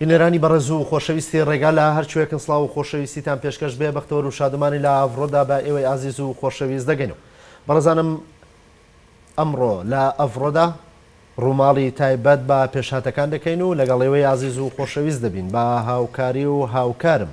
بینەرانی بەڕێز و خۆشەویستی ڕێگا لە هەرکوێکن سڵاو و خۆشەویستیتان پێشکەش بێ بەختەوەر و شادمانی لە ئەڤڕۆدا بە ئێوەی ئازیز و خۆشەویست دەگەین و بەڕێزانم ئەمڕۆ لە ئەڤڕۆدا ڕووماڵی تایبەت بە پێشهاتەکان دەکەین و لەگەڵ ئێوەی ئازیز و خۆشەویست دەبین بە هاوکاری و هاوکارم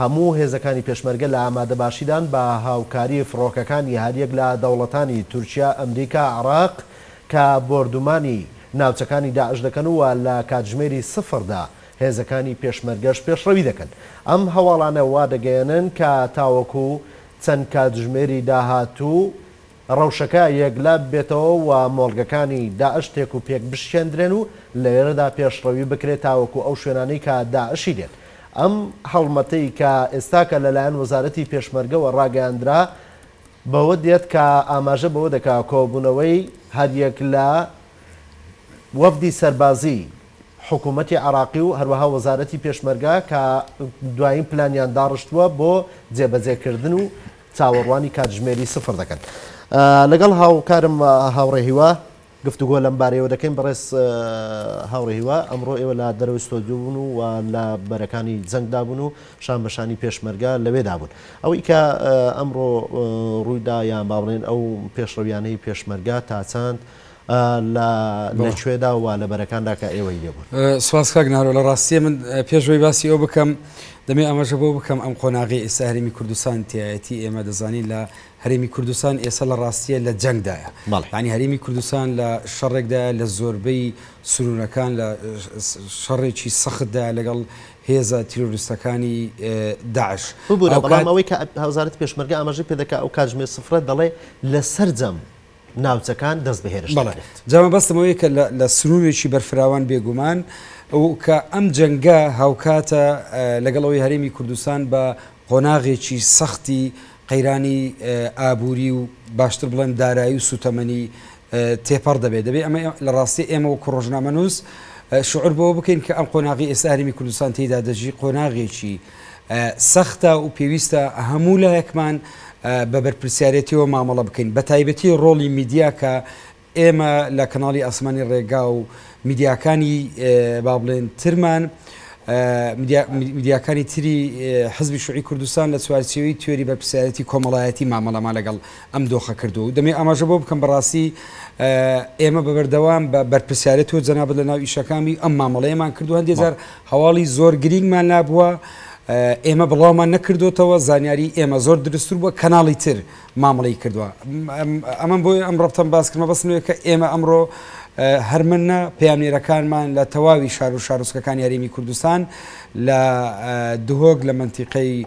هەموو هێزەکانی پێشمەرگە لە ئامادەباشیدان بە هاوکاری فڕۆکەکانی هەریەک لە دەوڵەتانی تورکیا، ئەمریکا، عێراق کە بۆردومانی ناوچەکانی داعش دەکەن و لە کاتژمێری سفردا هێزەکانی پێشمەرگەش پێشڕەوی دەکەن. ئەم هەواڵانە وادەگەیەنن کە تاوەکو چەند کاتژمێری داهاتوو، ڕەوشەکە یەکلا ببێتەوە و مۆڵگەکانی داعش تێک و پێک بشکێندرێن و لەێرەدا پێشڕەوی بکرێت تاوەکو ئەو شوێنانەی کە داعشی دێت. ئەم هەڵمەتەی کە ئێستاکە لەلایەن وەزارەتی پێشمەرگەوە ڕاگەیاندرا بەوە دێت کە ئاماژە بەوە دەکا کۆبوونەوەی هەریەک لە وەفدی سەربازی حکوومەتی عێراقی و هەروەها وەزارەتی پێشمەرگە کە دوایین پلانیان داڕشتووە بۆ جێبەجێکردن و چاوەڕوانی کاتژمێری سفر دەکەن. لەگەڵ هاوکارم هاوڕێ هیوا گفتوگۆ لەم بارەیەوە دەکەین بەڕێز هاوڕێ هیوا ئەمڕۆ ئێوە لە دەرەوەی ستۆدیو بوون و و لە بەرەکانی جەنگدا بوون و شان بە شانی پێشمەرگە لەوێدا بوون ئەوەی کە ئەمڕۆ ڕوویدا یان با بڵێن ئەو پێشڕەویانەی پێشمەرگە تا چەند لە لە کوێدا و وا لە بەرەکاندا کە ئێوەی لێ بوون. سپاس کاک نارۆ لە ڕاستیە من پێش ئەوەی باسی ئەو بکەم دەمێ ئەمەژە بۆ بکەم ئەم قۆناغی ئێستا هەرێمی کوردستان تایەتی ئێمە دەزانین لە هەرێمی کوردستان ئێستا لە ڕاستیە لە جەنگدایە ینی هەرێمی کوردستان لە شەڕێکدا لە زۆربەی سرونەکان لە شەڕێکی سەختدا لەگەڵ هێزە تیرۆریستەکانی داعش ببوورە بەڵام ئەوەی کە هەوزارت پێشمەرگە ئاماژەی پێ دەکە ئەو کاتژمێ سفرە دەڵێ لە سەرجەم ناوچەکان دەست بە هێرش دەکرێت. جا مەبەستم ئەوەیە کە لە سنوورێکی بەرفراوان بێگومان و کە ئەم جەنگە هاوکاتە لەگەڵ ئەوەی هەرێمی کوردستان بە قۆناغێکی سەختی قەیرانی ئابووری و باشتر بڵێم دارایی و سووتەمەنی تێپەڕ دەبێت دەبێت ئەمە لە ڕاستی ئێمە وەکو ڕۆژنامەنووس شعور بەوە بکەین کە ئەم قۆناغی ئێستا هەرێمی کوردستان تێدا دەژی قۆناغێکی سەختە و پێویستە هەموو لایەکمان بە بەرپرسیارێتیەوە مامەڵە بکەین بە تایبەتی ڕۆڵی میدیا کە ئێمە لە کەناڵی ئاسمانی ڕێگا و میدیاکانی با بڵێن ترمان میدیاکانی تری حزبی شوعی کوردستان لە چوارچێوی تیۆری بەرپسیارەتی کۆمەڵایەتی مامەڵەما لەگەڵ ئەم دۆخە کردو و دەمێ ئاماژە بۆ بکەم بەڕاستی ئێمە بە بەردەوام بە بەرپسیارەت و جەنابەت لە ناو ئیشەکانی ئەم مامەڵەیەمان کردو هەندێجار هەواڵی زۆر گرینگمان لابووە ئێمە بڵاومان نەکردۆتەوە زانیاری ئێمە زۆر درستتر بووە کەناڵی تر مامڵی کردووە ئەمەم بۆی ئەم ڕفتم باسکردمە بەسمێ کە ئێمە ئەمڕۆ هەرمنە پامێرەکانمان لە تەواوی شار و شارۆچکەکانی هەرێمی کوردستان لە دهۆک لە منتیقەی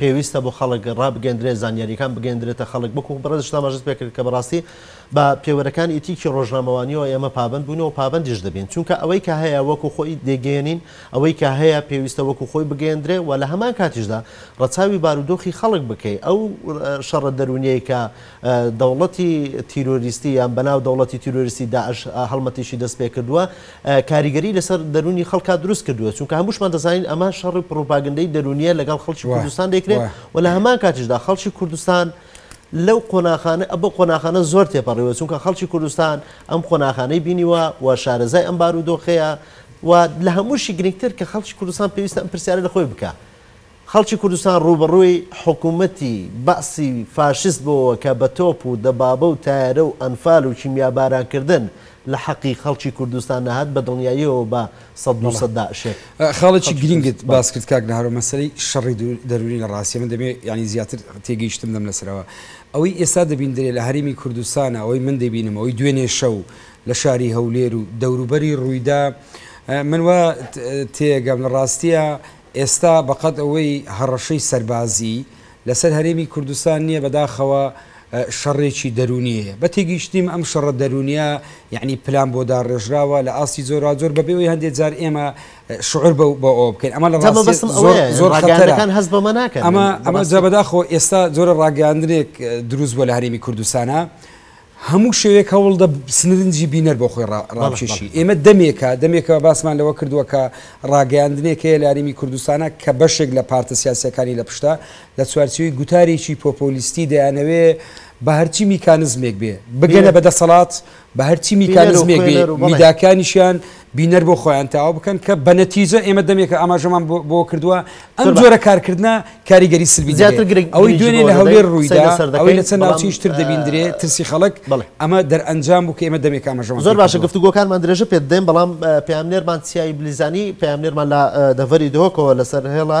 پێویستە بۆ خەڵک ڕابگەندرێت، زانیارییەکان بگەیەندرێتە خەڵک، وەکو بەڕێزیشت ئاماژەت پێکرد کە بەڕاستی بە پێوەرەکانی ئیتیکی ڕۆژنامەوانییەوە ئێمە پابەند بووین و پابەندیش دەبین، چونکە ئەوەی کە هەیە وەکو خۆی دەیگەیەنین، ئەوەی کە هەیە پێویستە وەکو خۆی بگەیەندرێت و لە هەمان کاتیشدا ڕەچاوی بارودۆخی خەڵک بکەی، ئەو شەڕە دەروونییەی کە دەوڵەتی تیرۆریستی یان بەناو دەوڵەتی تیرۆریستی داعش هەڵمەتێکی دەستپێکردووە کاریگەری لەسەر دەروونی خەڵکا دروست کردووە چونکە هەمووشمان دەزانین ئەمە شەڕی پڕوپاگەندەی دەروونیە لەگەڵ خەڵکی کوردستان دەیکرێت و لە هەمان کاتیشدا خەڵکی کوردستان لەو قۆناخانە ئە بە قۆناخانە زۆر تێپەڕیوە چونکە خەڵکی کوردستان ئەم قۆناخانەی بینیوە و شارەزای ئەم بارودۆخەیە و لە هەمووشی گرنگتر کە خەڵکی کوردستان پێویستە ئەم پرسیارە لە خۆی بکا خەڵکی کوردستان ڕووبەڕووی حکوومەتی بەعسی فاشیست بۆوە کە بە تۆپ و دەبابە و تایەرە و ئەنفال و کیمیاباران کردن لە حەقی خەڵکی کوردستان نەهات بە دڵنیاییەوە بە سەد دوو سەد داعشێک خاڵێکی گرینگت باس کرد کاک نهار و مەسەلەی شەڕی دەروونی لە ڕاستیە من دەمێ یانی زیاتر تێگەیشتن دەم لەسەرەوە ئەوەی ئێستا دەبیندرێ لە هەرێمی کوردستانە ئەوەی من دەبینم ئەوەی دوێنێ شەو لە شاری هەولێر و دەوروبەری ڕوویدا من وا تێگەم لە ڕاستیە ئێستا بەقەد ئەوەی هەڕەشەی سەربازی لەسەر هەرێمی کوردستان نیە بەداخەوە شەڕێکی دەرونیەیە بە تێگەیشتنیم ئەم شەڕە دەرونیە یەعنی پلان بۆ داڕێژراوە لە ئاستی جۆراوجۆر بەبێ ئەوەی هەندێ جار ئێمە شعور بە ئەوە بکەین ئەمە لە ڕاستیەت زۆر زۆر خەتەرەکان هەست بەمە ناکەن ئەمە ئەمە جا بەداخەوە ئێستا جۆرە ڕاگەیاندنێک دروست بوە لە هەرێمی کوردستانە هەموو شەوێک هەوڵدە سنرنجی بینەر بۆ خۆی ڕاکێشی ئێمە دەمێکە دەمێکەوە باسمان لەوە کردووە کە ڕاگەیاندنێک هەیە لاریمی کوردستانە کە بەشێک لە پارتە سیاسەکانی لە پشتە لە چوارچوی گوتارێکی پۆپۆلیستی دەیانەوێ بە هەرچی میکانزمێک بێ بگەنە بە دەسەڵات بە هەرچی میکانزمێک بێ میداکانیشیان بینەر بۆ خۆیان تاو بکەن کە بە نەتیجە ئێمە دەمێکە ئاماژەمان بۆ کردووە ئەم جۆرە کارکردە کاریگەری سلبی زیاتر گرنگ ئەوەی دوێنێ لە هەولێر ڕوویدا ئەوەی لە چەند ناوچەیش تر دەبیندرێ ترسی خەڵک ئەمە دەرئەنجام بوو کە ئێمە دەمێک ئاماژەمان زۆر باشە گفتوگۆکانمان درێژە پێ دەدەین بەڵام پەیامنێرمان چیایی بلیزانی پەیامنێرمان لە دەڤەری دهۆکەوە لەسەر هێڵە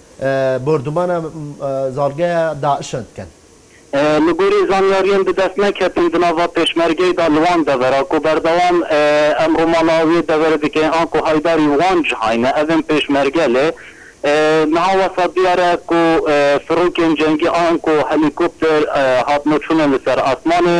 بۆردومانە زاڵگەیە داعشە دکەن. لە گۆری زانیاریەن دە دەس نەکەتن دناڤا پێشمەرگەی دا لوان دەڤەرا کو بەردەوام ئەمڕوو ماڵاویە دەڤەرە دکەین ئانکو هایداری وان جهاینە ئەڤن پێشمەرگە لێ نها وەسا دیارە کو فرۆکێن جەنگی ئانکو هەلیکۆپتر هاتنە چونە لە سەر ئاسمانێ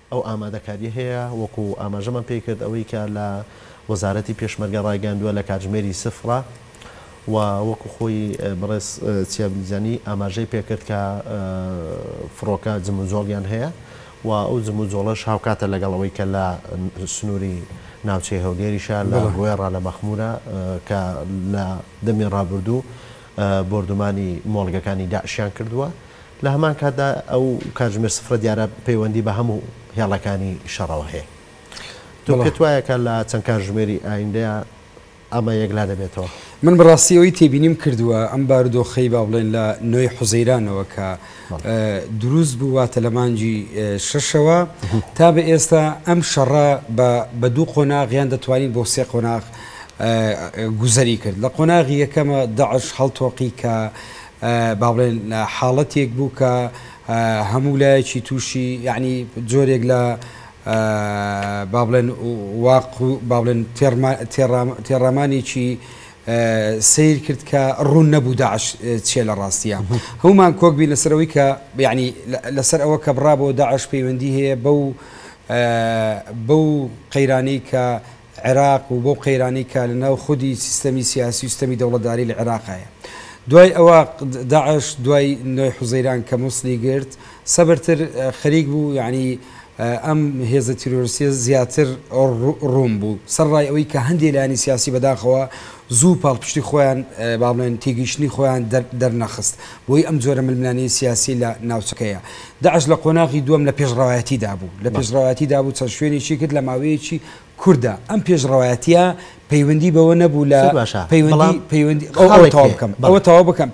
ئەو ئامادەکارییە هەیە، وەکو ئاماژەمان پێی کرد ئەوەی کە لە وەزارەتی پێشمەرگە ڕایگەیاندووە لە کاتژمێری سفرە و وەکو خۆی بەڕێز چیا بلیجانی ئاماژەی پێ کرد کە فڕۆکە جموجۆڵیان هەیە و ئەو جموجۆڵەش هاوکاتە لەگەڵ ئەوەی کە لە سنووری ناوچەی هەولێریشە لە بەڵێ گوێڕا لە مەخمورە کە لە دەمی ڕابردوو بۆردومانی مۆڵگەکانی داعشیان کردووە لە هەمان کاتدا ئەو کاتژمێر سفرە دیارە پەیوەندی بە هەموو هێڵەکانی شەڕەوە هەیە. تۆ پێت وایە کە لە چەند کاتژمێری ئایندەیا ئەمە یەکلا دەبێتەوە؟ من بە ڕاستی ئەوەی تێبینیم کردووە ئەم بارودۆخەی با بڵێن لە نۆ ی حوزەیرانەوە کە دروست بوو واتە لە مانگی شەشەوە تا بە ئێستا ئەم شەڕە بە دوو قۆناغ یان دەتوانین بۆ سێ قۆناغ گوزەری کرد. لە قۆناغی یەکەمە داعش هەڵتۆقی کە با بڵێن حاڵەتێک بوو کە هەموو لایەکی تووشی یەعنی جۆرێک لە با بڵێن واق و با بڵێن تێڕامانێکی سیر کرد کە ڕوون نەبوو داعش چێ لە ڕاستیە هەومان کۆک بینە سەرەوەی کە یعنی لەسەر ئەوە کە بڕا بۆ داعش پەیوەندی هەیە بەو بەو قەیرانەی کە عێراق و بەو قەیرانەی کە لە ناو خودی سیستەمی سیاسی و سیستەمی دەوڵەتداری لە عێراق هەیە. دوای ئەوە داعش دوای نۆی حوزەیران کە موسڵی گرت سەبرتر خەریک بوو یەعنی ئەم هێزە تیرۆرستیە زیاتر ڕوون بوو سەر ڕای ئەوەی کە هەندێ لایەنی سیاسی بەداخەوە زوو پاڵپشتی خۆیان با بڵێن تێگەیشتنی خۆیان دەرنەخست بۆی ئەم جۆرە ململانێی سیاسی لە ناوچەکەیە. داعش لە قۆناغی دووەم لە پێشڕەوایەتی دابوو لە پێشڕەوایەتی دابوو چەند شوێنێکی کرد لە ماوەیەکی کوردە، ئەم پێشڕەوایەتیە پەیوەندی بەوە نەبوو لە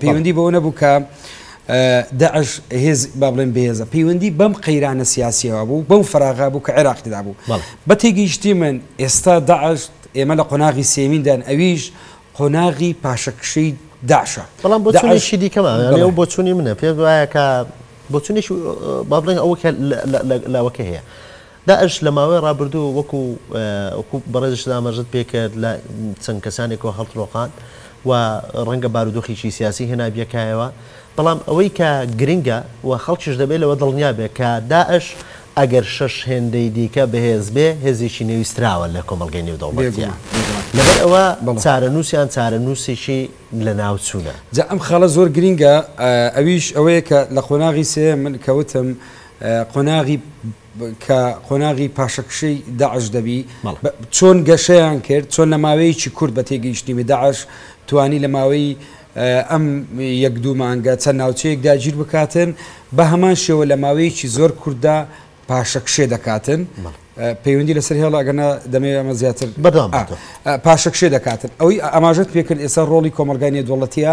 پەیوەندی بەوە نەبوو کە داعش هێز با بڵێن بەهێزە پەیوەندی بەم قەیرانە سیاسیەوە بوو بەو فراغا بوو کە عێراقیدا بوو بە تێگەیشتی من ئێستا داعش ئێمە لە قۆناغی سێمیندان ئەویش قۆناغی پاشەکشەی داعشە بەڵام بۆ چونیشی دیکەمان لەو بۆ چونی منە پێ وایە کە بۆ چونیش با بڵێن ئەوە لەوەکە هەیە داعش لە ماوەی ڕابردوو وەکو وەکو بەڕێزیشت ئاماژەت پێ کرد لە چەند کەسانێکەوە هەڵترۆقان و ڕەنگە بارودۆخێکی سیاسی هێنابیە کایەوە بەڵام ئەوەی کە گرنگە و خەڵکیش دەبێ لەوە دڵنیا بێ کە داعش ئەگەر شەش هێندەی دیکە بەهێز بێ هێزێکی نێویستراوە لە کۆمەڵگەی نێودەوڵەتیە بێگومان بێگومان لەبەر ئەوە بەڵێ چارەنووسیان چارەنووسێکی لەناوچوونە. جا ئەم خاڵە زۆر گرینگە ئەویش ئەوەیە کە لە قۆناغی سێیەم من کە وتم قۆناغی کە قۆناغی پاشەکشەی داعش دەبی چۆن گەشەیان کرد چۆن لە ماوەیەکی کورت بە تێگەیشتنی داعش توانی لە ماوەی ئەم یەک دوو مانگە چەند ناوچەیەک داگیر بکاتن بە هەمان شێوە لە ماوەیەکی زۆر کورددا پاشەکشێ دەکاتن پەیوەندی لەسەر هێڵ ئەگەنا دەمەوێت ئەمە زیاتر بەدام پاشەکشێ دەکاتن ئەوەی ئاماژت پێکرد ئێستا ڕۆڵی کۆمەلگای نێدوڵەتیە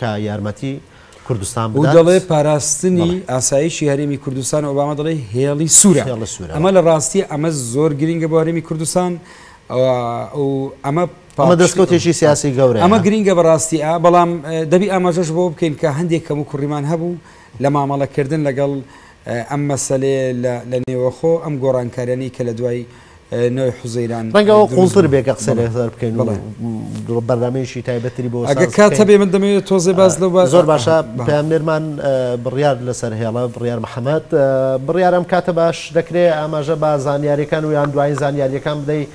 کە یارمەتی کوردستان بدات. ئەو دەڵێت پاراستنی ئاسایشی هەرێمی کوردستان و ئۆباما دەڵێت هێڵی سوورە. ئەمە لە ڕاستییە ئەمە زۆر گرینگە بۆ هەرێمی کوردستان و ئەمە ئەمە دەستکەوتێکی سیاسی گەورە ئەمە گرینگە بە ڕاستیە بەڵام دەبی ئاماژەش بۆ بکەین کە هەندێک کەم و کوڕیمان هەبوو لە مامەڵە کردن لەگەڵ ئەم مەسەلەیە لە نێوەخۆ ئەم گۆڕانکاریانەی کە لە دوای نۆی حوزەیران ڕەنگە ئەوە قوڵتر بێ کە قسە لەسەر بکەین و بەرنامەیەکی تایبەتری بۆ ئەگەر کات هەبێ من دەمەوێت تۆزێ باس لەو بە زۆر باشە پامێرمان بڕیار لەسەر هێڵە بڕیار محەممەد بڕیارم کاتە باش دەکرێت ئاماژە بە زانیاریەکان و یان دوایین زانیاریەکان بدەیت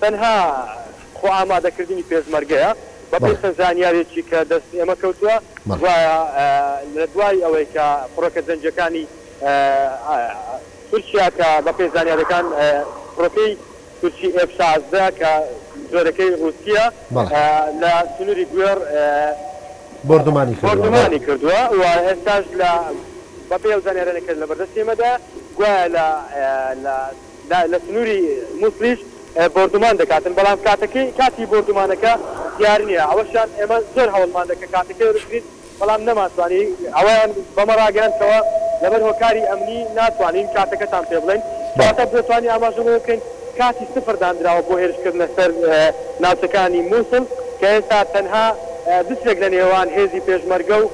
تەنها خۆ ئامادەکردنی پێشمەرگەیە، بەپێی چەند زانیاریەکی کە دەست ئێمە کەوتووە گوایە لە دوای ئەوەی کە فڕۆکە جەنگیەکانی تورکیا کە بەپێی زانیاریەکان فڕۆکەی تورکی ئێف شازدە کە جۆرەکەی ڕوسیە لە سنوری گوێڕ بۆردومانی کردووە و ئێستاش لە بەپێی ئەو زانیاریانەی کە لەبەردەستی ئێمەدایە گوایە لە دا لە سنووری موسڵیش بۆردومان دەکاتن، بەڵام کاتەکەی کاتی بۆردومانەکە دیار نییە، ئەوەشیان ئێمە زۆر هەوڵماندا کە کاتەکەی ببینین، بەڵام نەمانتوانی، ئەوەیان بەمە ڕاگەیاند کەوا لەبەر هۆکاری ئەمنی ناتوانین کاتەکەتان پێ بڵێین، کەواتە بۆتانی ئاماژە بەوە بکەین کاتی سفر داندراوە بۆ هێرشکردنە سەر ناوچەکانی موسڵ کە ئێستا تەنها بترێک لە نێوان هێزی پێشمەرگە و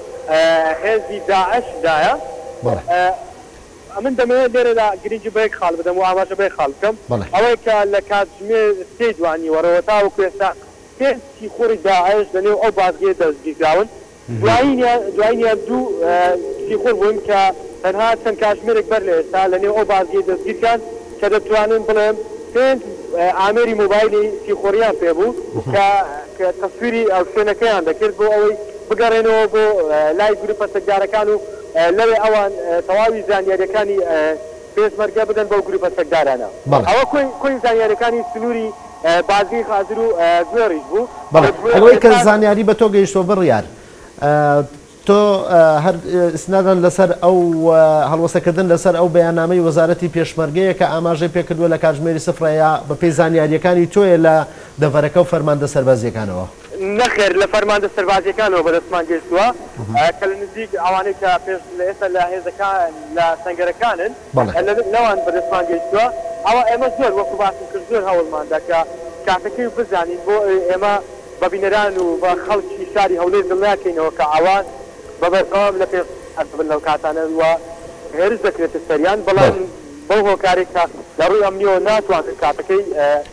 هێزی داعش دایە. ئەمن دەمەوێت لێرەدا گرنگی بە یەک خاڵ بدەم و ئاماژە بە یەک خاڵ بکەم، بەڵێ. ئەوەی کە لە کاتژمێر سێی دوانیوەڕۆوە تاوەکو ئێستا پێنج سیخوڕی داعش لەنێو ئەو بازگەیە دەستگیرکراون، دوایینیان دوایینیان دوو سیخوڕ بوون کە تەنها چەند کاتژمێرێک بەر لە ئێستا لەنێو ئەو بازگەیە دەستگیرکران کە دەتوانم بڵێم پێنج ئامێری مۆبایلی سیخوڕییان پێ بوو کە کە تەسویری شوێنەکەیان دەکرد بۆ ئەوەی بگەڕێنەوە بۆ لای گرووپە چەکدارەکان و لەوێ ئەوان تەواوی زانیارییەکانی پێشمەرگە بدەن بەو گرووپە چەکدارانە. ئەوە کۆی زانیارییەکانی سنووری بازگەی خازر و گوێڕیش بوو. بەڵێ، ئەوەی کە زانیاری بە تۆ گەیشتووە بڕیار، تۆ هەر ئیستنادەن لەسەر ئەو هەڵوەستەکردن لەسەر ئەو بەیاننامەی وەزارەتی پێشمەرگەیە کە ئاماژەی پێ کردووە لە کاتژمێری سفرە یا بەپێی زانیارییەکانی تۆیە لە دەڤەرەکە و فەرماندە سەربازییەکانەوە؟ نەخێر لە فەرماندە سەربازییەکانەوە بەدەستمان گەیشتووە کە لە نزیک ئەوانەی کە پێش لە ئێستا لە هێزەکان لە سەنگەرەکانن لەوان بەدەستمان گەیشتووە ئەوە ئێمە زۆر وەکو باسم کرد زۆر هەوڵمان دا کە کاتەکەی و بزانین بۆ ئێمە بە بینەران و بە خەڵکی شاری هەولێر دڵنیا کەینەوە کە ئەوان بە بەردەوام لە پێش دەبن لەو کاتانە و هێرش دەکرێتە سەریان بەڵام بەو هۆکارێک کە لە ڕووی ئەمنییەوە ناتوانن کاتەکەی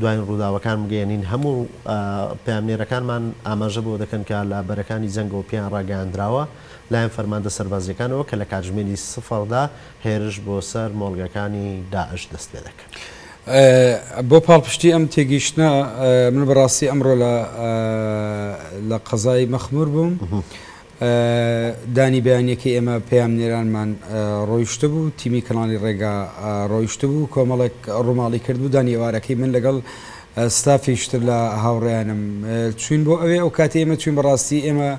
دواین ڕووداوەکان بگەیەنین، هەموو پەیامنێرەکانمان ئاماژە بەوە دەکەن کە لە بەرەکانی جەنگەوە پێیان ڕاگەیاندراوە لەلایەن فەرماندە سەربازییەکانەوە کە لە کاتژمێری سفردا هێرش بۆ سەر مۆڵگەکانی داعش دەست پێ دەکەن. بۆ پاڵپشتی ئەم تێگەیشتنە من بەڕاستی ئەمڕۆ لە قەزای مەخمور بووم، دانی بەیانیەکەی ئێمە پەیامنێرانمان ڕۆیشتبوو، تیمی کەناڵی ڕێگا ڕۆیشتبوو، کۆمەڵێک ڕوماڵی کردبوو، دانی ئێوارەکەی من لەگەڵ ستافیش تر لە هاوڕێیانم چوین بۆ ئەوێ، ئەو کاتەی ئێمە چوین بەڕاستی ئێمە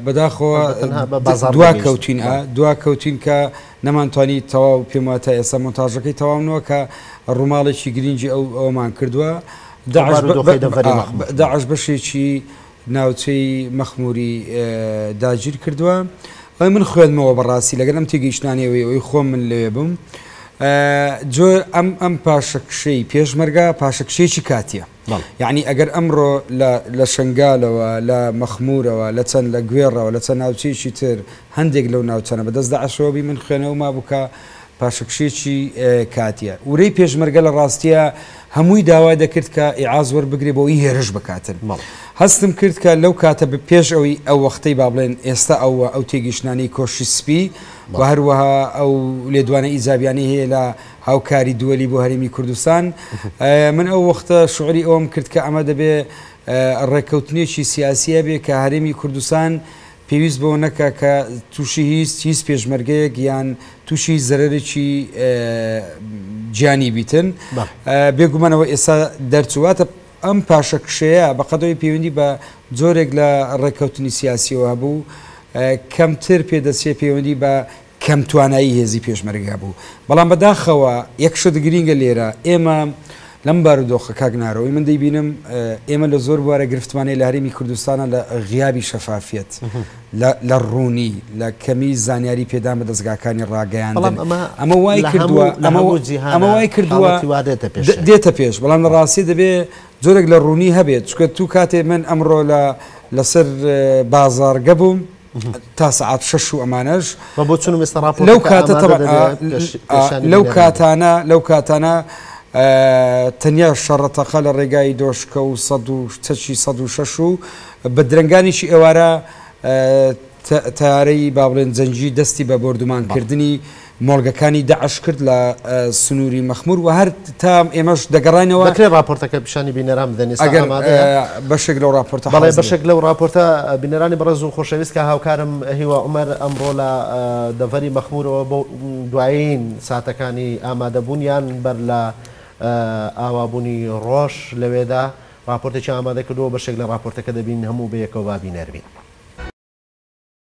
بەداخەوە دواکەوتین دواکەوتین کە نەمانتوانی تەواو پێم وایە تا ئێستا مۆنتاژەکەی تەواو نوە کە ڕوماڵێکی گرینگی ئەو ئەومان کردووە داعش بەشێکی ناوچەی مەخموری داگیر کردوە بەڵێ من خوێندمەوە بەڕاستی لەگەل ئەم تێگەیشتنانەی ئەوەی ئەوەی خۆم من لەوێ بوم جۆ ئەم ئەم پاشەکشەی پێشمەرگە پاشەکشەیەکی کاتیە یعنی ئەگەر ئەمڕۆ لە شنگالەوە لە مەخمورەوە لە چەند لە گوێڕەوە لە چەند ناوچەیەکی تر هەندێک لەو ناوچەنە بەدەست داعشەوە بی من خوێنەوە مابووکە پاشەکشێکی کاتیە ورەی پێشمەرگە لە ڕاستیا هەمووی داوای دەکرد کە ئیعاز وەربگرێ بۆ ی هێرش بکاتن هەستم کرد کە لەو کاتە بە پێش ئەوی ئەو وەختەی با بڵێن ئێستا ئەو وە ئەو تێگیشتنانەی کۆشی سپی وە هەروەها ئەو لێدوانە ئیجابیانەی هەیە لە هاوکاری دووەلی بۆ هەرێمی کوردستان من ئەو وەختە شعوری ئەوم کرد کە ئەمە دەبێ ڕێککەوتنێکی سیاسیە بێ کە هەرێمی کوردستان پێویست بەوە نەکا کە تووشی هیچ هیچ پێشمەرگەیەک یان تووشی هیچ زەرەرێکی گیانی بیتن بێگومانەوە ئێستا دەرچواتە ئەم پاشە کشەیە بەقەدەوەی پەیوەندی بە جۆرێک لە ڕێککەوتنی سیاسیەوە هەبوو کەمتر پێدەچێ پەیوەندی بە کەم توانایی هێزی پێشمەرگە بوو. بەڵام بە داخەوە یەک شت گرینگە لێرە ئێمە لەم بارودۆخە کاک نارۆی من دەیبینم ئێمە لە زۆر بوارە گرفتمان هەیە لە هەرێمی کوردستانە لە غیابی شەفافیەت لە ڕوونی لە کەمی زانیاری پێدان بە دەستگاکانی ڕاگەیاندن ئەمە وای کردووە ئەمە وای کردووە دێتە پێش بەڵام لە ڕاستی دەبێ جۆرێک لە ڕوونی هەبێت چکە تو کاتێ من ئەمڕۆ لە لەسەر بازارگە بووم تا سەعات شەش و ئەمانەش لەو کاتە تەبعا لەو کاتانە لەو کاتانە تەنیا شەڕەتەقە لە ڕێگای دۆشکە و سەد و چەچی سەد و شەش و بە درەنگانیشی ئێوارە تارەی با بڵێن جەنگی دەستی بە بۆردومانکردنی مۆڵگەکانی داعش کرد لە سنووری مەخموور و هەر تا ئێمەش دەگەڕاینەوە. دەکرێت ڕاپۆرتەکە پیشانی بینەران بدەن ئێستا ئەگەر ئامادەیە؟ بەشێک لەو ڕاپۆرتە حازرە. بەڵێ بەشێک لەو ڕاپۆرتە بینەرانی بەڕێز و خۆشەویست کە هاوکارم هیوا عومەر ئەمڕۆ لە دەڤەری مەخموورەوە بۆ دوایین ساتەکانی ئامادەبوونیان بەر لە ئاوابوونی ڕۆژ لەوێدا ڕاپۆرتێکیان ئامادە کردووە بەشێک لە ڕاپۆرتەکە دەبین هەموو بەیەکەوە با بینەر بین.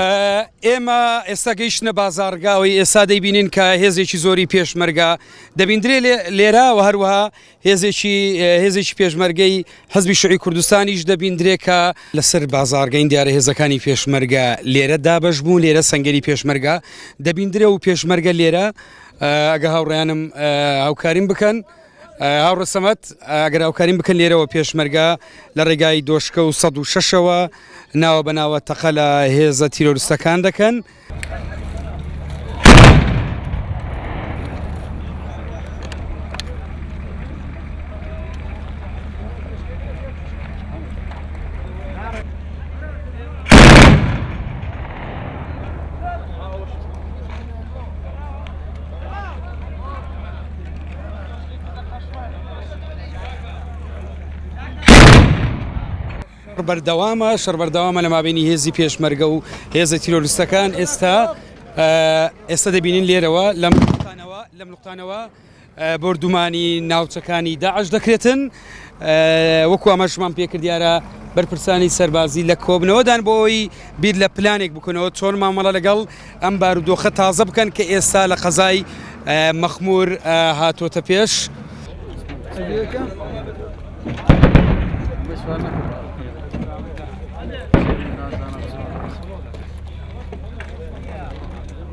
ئێمە ئێستا گەیشتە بازارگاوی ئێستا دەیبینین کە هێزێکی زۆری پێشمەرگا دەبیندرێ لێرا و هەروەها هێزێکی هێزێکی پێشمەرگەی حزبی شوعی کوردستانیش دەبیندرێ کە لەسەر بازارگەین دیارە هێزەکانی پێشمەرگە لێرە دابش بوو لێرە سنگری پێشمەرگا دەبیندرێ و پێشمەرگە لێرە ئەگە هاوڕیانم هاوکاریم بکەن هاوڕە سەمەت ئەگەر هاوکاریم بکەن لێرەوە پێشمەرگا لە ڕێگای دۆشکە و 16ەوە ناوە بەناوە تەقە لە هێزە تیرۆرستەکان دەکەن. بەردەوامە شەر بەردەوامە لە مابینی هێزی پێشمەرگە و هێزە تیرۆریستەکان ئێستا ئێستا دەبینین لێرەوە لەم لەم نقطانەوە بۆردومانی ناوچەکانی داعش دەکرێتن. وەکو ئاماژەمان پێ کرد دیارە بەرپرسانی سەربازی لە کۆبنەوەدان بۆ ئەوەی بیر لە پلانێک بکەنەوە چۆن مامەڵە لەگەڵ ئەم بارودۆخە تازە بکەن کە ئێستا لە قەزای مەخمور هاتووەتە پێش.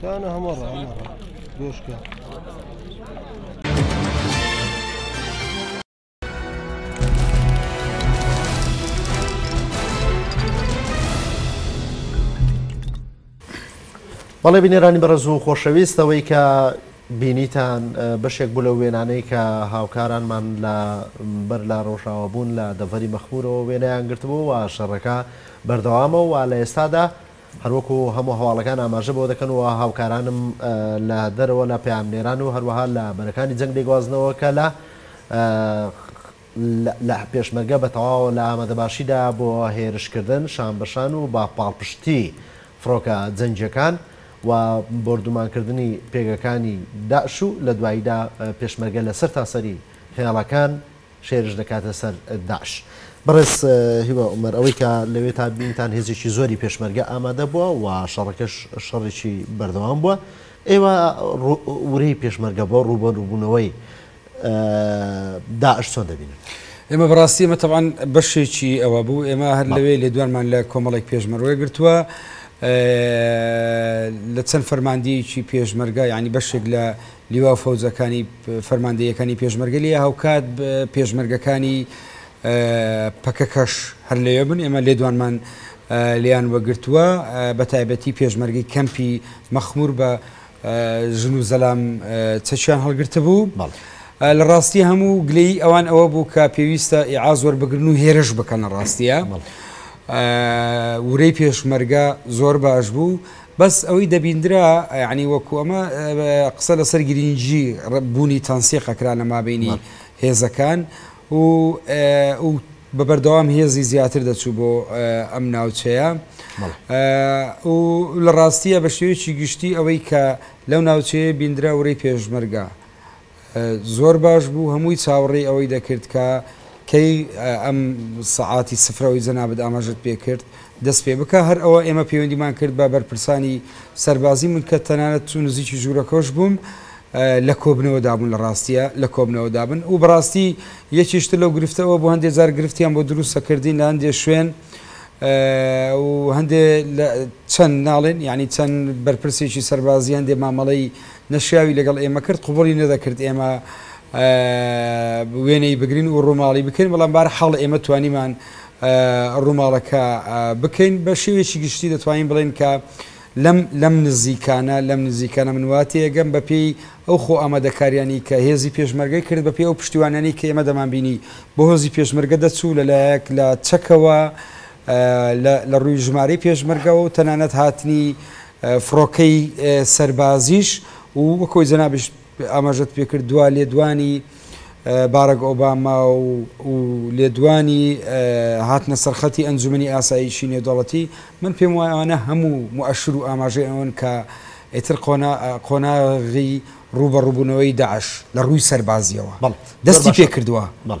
تانە هەمە ڕە هەمە ڕە دۆشکە بەڵێ بینێرانی بەڕێز و خۆشەویستەوەی کە بینیتان بەشێک بوو لەو وێنانەی کە هاوکارانمان لە بەر لە ڕۆژاوا بوون لە دەڤەری مەخمورەوە وێنەیان گرتبوو و شەڕەکە بەردەوامە و لە ئێستادا هەروەکو هەموو هەواڵەکان ئاماژە بەوە دەکەن و هاوکارانم لە دەرەوە لە پەیامنێران و هەروەها لە بەرەکانی جەنگ دەیگوازنەوە کە لە لە پێشمەرگە بە تەواوە لە ئامادەباشیدا بۆ هێرشکردن شان بە شان و بە پاڵپشتی فڕۆکە جەنگیەکان و بۆردومانکردنی پێگەکانی داعش و لە دواییدا پێشمەرگە لە سەرتاسەری هێڵەکان شێرش دەکاتە سەر داعش. بەڕێز هیوا عومەر، ئەوەی کە لەوێ تا بینتان هێزێکی زۆری پێشمەرگە ئامادە بووە و شەڕەکەش شەڕێکی بەردەوام بووە، ئێوە ورەی پێشمەرگە بۆ ڕووبەڕووبوونەوەی داعش چۆن دەبینن؟ ئێمە بەڕاستی ئمە تەوان بەشێکی ئەوە بوو ئێمە هەر لەوێ لێدوانمان لە کۆمەڵێک پێشمەروە گرتووە لە چەند فەرماندەیەکی پێشمەرگە ینی بەشێک لە لیوا فەوزەکانی فەرماندەیەکانی پێشمەرگە لە هاوکات پێشمەرگەکانی پەکەکەش هەر لەوێ بن ئێمە لێدوانمان لیان وەگرتووە بە تایبەتی پێشمەرگی کەمپی مەخمور بە ژن و زەلام چەکیان هەڵگرتبوو. لە ڕاستی هەموو گلەیی ئەوان ئەوە بوو کە پێویستە ئیعاز وەربگرن و هێرش بکەن لە ڕاستیە. ورەی پێشمەرگە زۆر باش بوو بەس ئەوەی دەبیندرا ینی وەکو ئەمە قسە لەسەر گرینگی بوونی تەنسیقەکرا لە مابینی هێزەکان و بە بەردەوام هێزی زیاتر دەچوو بۆ ئەم ناوچەیە و لە ڕاستیە بە شێوەیەکی گشتی ئەوەی کە لەو ناوچەیە بیندرا ورەی پێشمەرگە زۆر باش بوو هەمووی چاوەڕێی ئەوەی دەکرد کە کەی ئەم سەعاتی سفرەوەی جەنابەت ئاماژت پێ کرد دەست پێ بکە هەر ئەوە ئێمە پەیوەندیمان کرد بە بەرپرسانی سەربازی من کە تەنانەت چون نزیکی ژوورەکەش بووم لە کۆبنەوەدا بوون لە ڕاستیە لە کۆبنەوەدا بن و بەڕاستی یەکیش تر لەو گرفتە ئەوە بۆ هەندێ جار گرفتیان بۆ دروستە کردین لە هەندێ شوێن و هەندێ چەند ناڵێن یعنی چەند بەرپرسێکی سەربازی هەندێ مامەڵەی نەشیاوی لەگەڵ ئێمە کرد قوبڵی نەدەکرد ئێمە وێنەی بگرین و ڕووماڵی بکەین بەڵام بار حاڵ ئێمە توانیمان ڕووماڵەکە بکەین بە شێوێکی گشتی دەتوانین بڵێن کە لەم لەم نزیکانە لەم نزیکانە من وا تێئەگەم بە پێی ئەو خۆ ئامادەکاریانەی کە هێزی پێشمەرگەی کرد بە پێی ئەو پشتیوانیانەی کە ئێمە دەمان بینی بۆ هۆزی پێشمەرگە دەچوو لە لایەک لە چەکەوە لە لە ڕووی ژمارەی پێشمەرگەوە و تەنانەت هاتنی فڕۆکەی سەربازیش و وەکۆی جەنابیش ئاماژەت پێکرد دوا لێدوانی باراک ئۆباما و لێدوانی هاتنە سەرخەتی ئەنجومەنی ئاسایشی نێودەڵەتی من پێم وایە ئەوانە هەموو موئەشر و ئاماژەی ئەوەن کە ئیتر قۆناغی ڕووبەڕووبوونەوەی داعش لە ڕووی سەربازیەوە بەڵ دەستی پێ کردووە بەڵ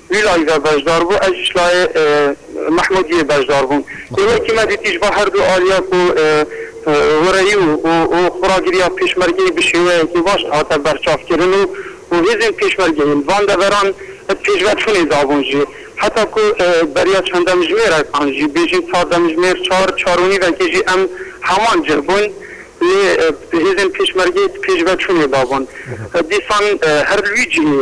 وی لایڤە بەشدار بوو ئەژیش لایێ مەحمود یێ بەشدار بووم ئێوەی تیمە دیتیش با هەردوو ئالیاک و هۆرەیی و و خورا گریا پێشمەرگەی بشێوەیەکی باش هاتە بەرچاف کرن و و هێزێن پێشمەرگەیل بان دەڤەران پێشڤەچونێ دابوون ژێ هەتا کو بەریا چەن دەمژمێرەکان ژی بێژین چار دەمژمێر چار چار و نیڤەکی ژی ئەم هەمان جێ بوون لێ هێزێن پێشمەرگەی پێشڤەچونێ دابوون دیسان هەر لویجیێ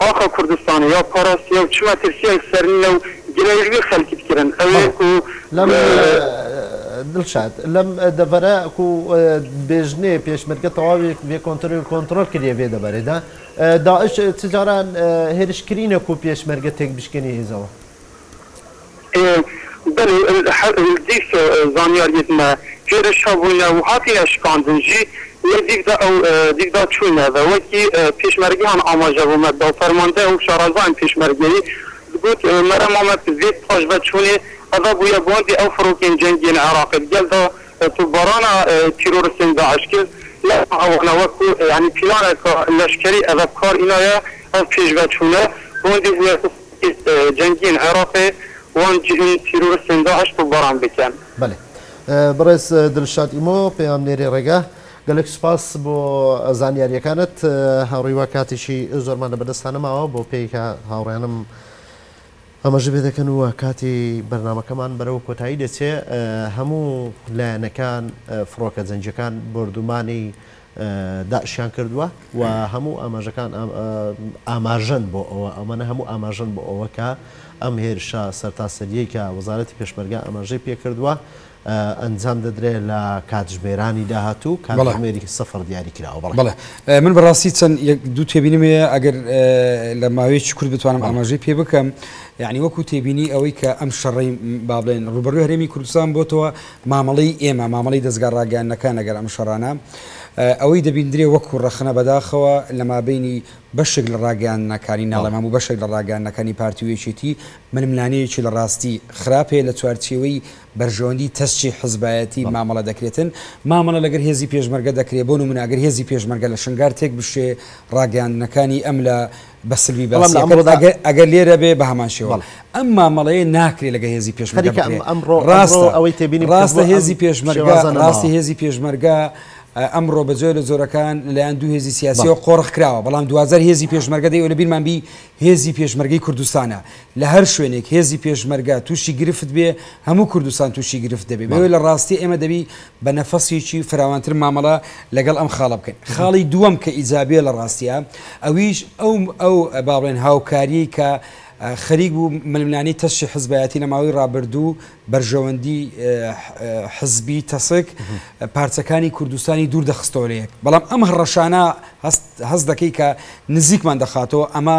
ئاخە کوردستان یا پاراست یا و چ مەترسیەک سەرنینە و گلەییەکدی خەلکیت کرن ئەوێ کو دڵشاد لەم دەڤەرە کو بێژنێ پێشمەرگە تەواوێک ڤێ کۆنترل کۆنتڕۆل کریە ڤێ دەڤەرێدا داعش چ جاران هێرش کرینە کو پێشمەرگە تێک بشکێنی هێزەوە. بەلێ دیس زانیاریت مە پێرش هەبووینە و هاتینە شکاندن ژی لە دیفدا ئەو دیفدا چووینە ڤە وەکی پێشمەرگە هان ئاماژە بۆ مە داو فەرماندە و شارەزایان پێشمەرگەیی دگوت مەرە مامە پزێت پاش ڤە چوونێ ئەڤە بوویە باندێ ئەو فرۆکێن جەنگیێن عراقێت گەل دا توببارانا تیرۆرستێن داعش کرد لە هەوانە وەکو یانی پیلانە کا لەشکەری ئەڤە بکار ئینایە ئەو پێش ڤە چوونە باندێ بووە هیز جەنگیین عێڕاقێ وان جهن تیرورستێن داعش توبباران بکەن. بەلێ بەڕێز دلشاد ئیمۆ پەیامنێری ڕێگا گەلێک سوپاس بۆ زانیاریەکانت هاوڕیوا کاتیشی زۆرمان لە بەردەستا نەماوە بۆ پێی کە هاوڕیانم ئاماژە پێ دەکەن و کاتی بەرنامەکەمان بەرەو کۆتایی دەچێ هەموو لایەنەکان فڕۆکە جەنگیەکان بۆردومانی داعشیان کردووە و هەموو ئاماژەکان ئاماژەن بۆ ئەوە، ئەمانە هەموو ئاماژەن بۆ ئەوە کە ئەم هێرشە سەرتاسەرییەی کە وەزارەتی پێشمەرگە ئاماژەی پێ کردووە، ئەنجام دەدرێت لە کاتژمێرانی داهاتوو، کاتژمێری سفر دیاری کراوە. بەڵێ. بەڵێ. من بەڕاستی چەند یەک دوو تێبینیم هەیە، ئەگەر لە ماوەیەکی کورت بتوانم ئاماژەی پێ بکەم، یانی وەکو تێبینی ئەوەی کە ئەم شەڕەی با بڵێن ڕووبەڕووی هەرێمی کوردستان بۆتەوە، مامەڵەی ئێمە، مامەڵەی دەزگا ڕاگەیاندنەکان لەگەڵ ئەم شەڕانە ئەوەی دەبیندرێ وەکو ڕەخنە بەداخەوە لە مابەینی بەشێک لە ڕاگەیاندنەکانی ناڵێم هەموو بەشێک لە ڕاگەیاندنەکانی پارتی و یەکێتی ململانێیەکی لە ڕاستی خراپ هەیە لە چوارچێوەی بەرژەوەندی تەسکی حزبایەتی مامەڵە دەکرێتن مامەڵە لەگەر هێزی پێشمەرگە دەکرێ بۆ نمونە ئەگەر هێزی پێشمەرگە لە شنگار تێک بشکێ ڕاگەیاندنەکانی ئەم لە بە سلبی باسی ئەکرد ئەگەر لێرە بێ بە هەمان شێوە ئەم مامەڵەیە ناکرێت لەگە هێزی پێشمەرگە ئەمڕۆ ڕاستە ئەوەی تێبینی ڕاستە هێزی پێشمەرگە ڕاستی هێزی پێشمەرگە ئەمڕۆ بە جۆی لە زۆرەکان لەلایەن دوو هێزی سیاسیەوە قۆڕخکراوە بەڵام دوازار هێزی پێشمەرگە دەی لە بیرمانبی هێزی پێشمەرگی کوردستانە لە هەر شوێنێک هێزی پێشمەرگە تووشی گرفت بێ هەموو کوردستان تووشی گرفت دەبێ بەوێ لە ڕاستیە ئێمە دەبی بە نەفەسێکی فراوانتر مامەڵە لەگەڵ ئەم خاڵە بکەین خاڵی دووەم کە ئیجابێ لە ڕاستیە ئەویش ئەو ئەو با بڵێن هاوکاریەی کە خەریک بوو ململانی تەشی حزبایەتی لە ماوەی ڕابردوو بەرژەوەندی حزبی تەسک پارچەکانی کوردستانی دوور دەخستۆرەیەک بەڵام ئەم هەڕەشانە هەست دەکەی کە نزیکمان دەخاتەوە ئەمە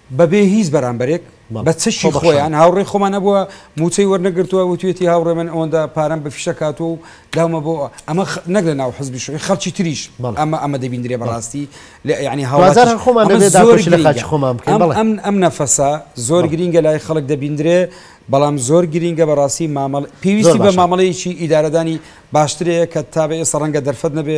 بەبێ هیچ بەرامبەرێک بە چەکی خۆیان هاوڕێی خۆمان نەبووە مووچەی وەرنەگرتووە وتوێتی هاوڕێ من ئەوەندە پارەم بە فیشە کاتوە و داومە بۆ ئەمە نەک لە ناو حزبی شوی خەڵکی تریش ئەمە ئەمە دەبیندرێ بەڕاستی لە ینی هاوازار خۆمان خۆمان بکەم ئەم نەفەسە زۆر گرینگە لای خەڵک دەبیندرێ بەڵام زۆر گرینگە بەڕاستی مامەڵ پێویستی بە مامەڵەیەکی ئیدارەدانی باشترەیە کە تا بە ئێستا ڕەنگە دەرفەت نەبێ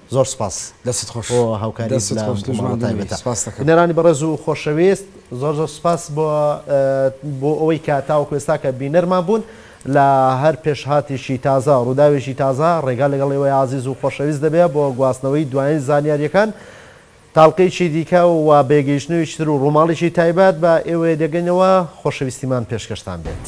زۆر سوپاس دەستت خۆش بۆ هاوکاری دەستت لەم خۆش دوژمن بووی تایبەتە سوپاست دەکەم بینەرانی بەڕێز و خۆشەویست زۆر زۆر سوپاس بۆ بۆ ئەوەی کە تاوەکو ئێستا کە بینەرمان بوون لە هەر پێشهاتێکی تازە ڕووداوێکی تازە ڕێگا لەگەڵ ئێوەی ئازیز و خۆشەویست دەبێ بۆ گواستنەوەی دوایین زانیارییەکان تاڵقەیەکی دیکە و بێ گەیشتنەوەیکی تر و ڕووماڵێکی تایبەت بە ئێوەیە دەگەینەوە خۆشەویستیمان پێشکەشتان بێت.